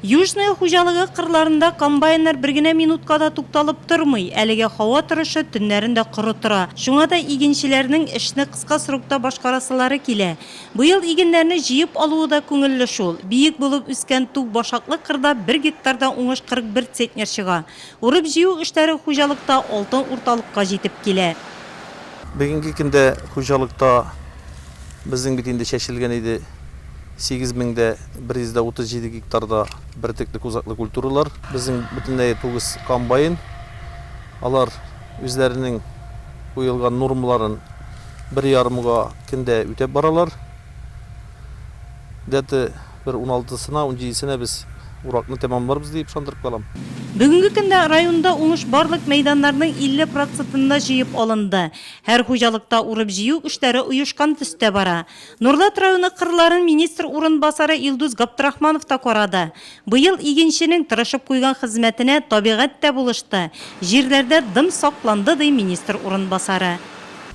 Южная хуҗалыгы кырларында комбайннар бер генә минутка да тукталып тормый. Әлегә һава торышы төннәрен дә коры тора. Шуңа да игенчеләрнең эшне кыска срокта башкарасылары килә. Быел игеннәрне җыеп алуы да күңелле шул. Биек булып үскән туп башаклы кырда бер гектарда уңыш 41 центнер чыга. Урып-җыю эшләре хуҗалыкта алтын урталыкка җитеп килә. Бүгенге көндә хуҗалыкта безнең бит инде чәчелгән иде 8137 гектарда бөртеклек озаклы культуралар. Безнең бөтенләй тугыз комбайн. Алар үзләренең куелган нормаларын бер ярымга көндә үтәп баралар. Дәте. бер уналтысына, унҗидесенә без уракны тәмамларбыз дип ышандырып калам. Бүгенге көндә районда уңыш барлык мәйданнарның 50 процетында җыеп алынды. Һәр хуҗалыкта урып-җыю эшләре оешкан төстә бара. Нурлат районы кырларын министр урынбасары Илдус Габдрахманов та карады. Быел игенченең тырышып куйган хезмәтенә табигать тә булышты, җирләрдә дым сакланды, ди министр урынбасары.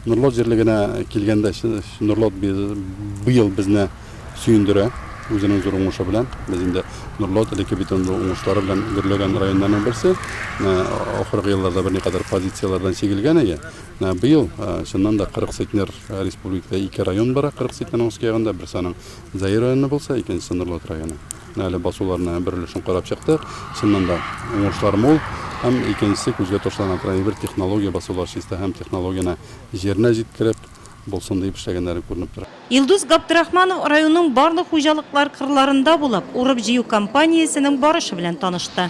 Норлат җирлегенә килгәндә, Норлат быел безне сөендерә үзенең зур уңышы белән. Без инде Норлат элекке бит инде уңышлары белән гөрләгән районнарның берсе. Ахыргы елларда берникадәр позицияләрдән чигелгән иде. Быел чыннан да 40 центнер республикада ике район бара, 40 центнерның өске ягында, берсе аның Заир районы булса, икенчесе Норлат районы. Әле басуларны бер өлешен карап чыктык. Чыннан да уңышлар мул. Һәм икенчесе күзгә ташлана тора. Әйбер технология басулар чиста һәм технологияне җиренә җиткереп булсын диеп эшләгәннәре күренеп тора. Илдус Габдрахманов районның барлык хуҗалыклар кырларында булып, урып-җыю кампаниясенең барышы белән танышты.